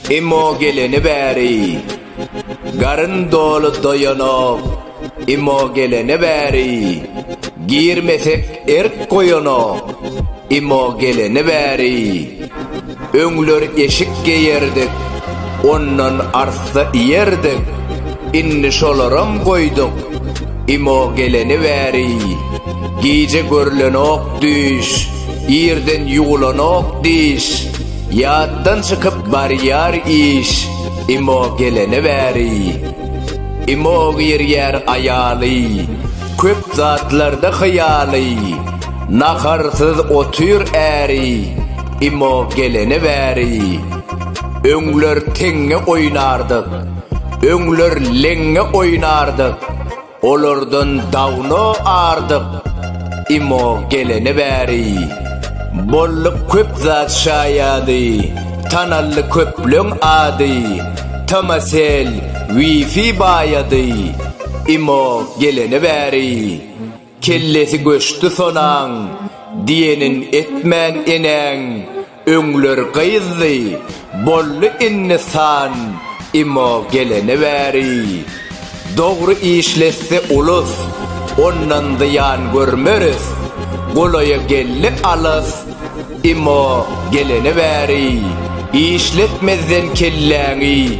Emmo geleni bäri garyn doly doýanok. Emmo geleni bäri girmesek erk goýanok. Emmo geleni bäri Öňler eşik geýerdik, ondan arssa iýerdik, indi şolaram goýduk. Imo geleni bäri, gije görlenok düýş, irden ýuwlanok diş, ýatdan çykyp barýar iş, Imo geleni bäri. Imo girýär aýaly, köp zatlarda hyýaly, naharsyz otyr äri, Imo gelene bäri öňler teňňe oýnardyk, öňler leňňe oýnardyk, olardan dawno ardyk. Imo gelene bäri boldy köp zat şaýady, tanaldy köpleň ady, Tamasel, Wi-Fi baýady. Imo gelene bäri. Kellesi göçdi sonaň, diýenin etmän enäň, öňler gyzdy, boldy indi san, imo gelene bäri. Dogry işletse ulus, ondan zyýan görmeris, golaýa geldi alys, Emma gelene bäri işletmezden kelläňi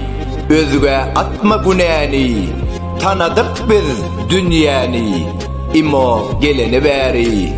özgä atma günäni Tanadyk biz dünýäni Emma gelene bäri.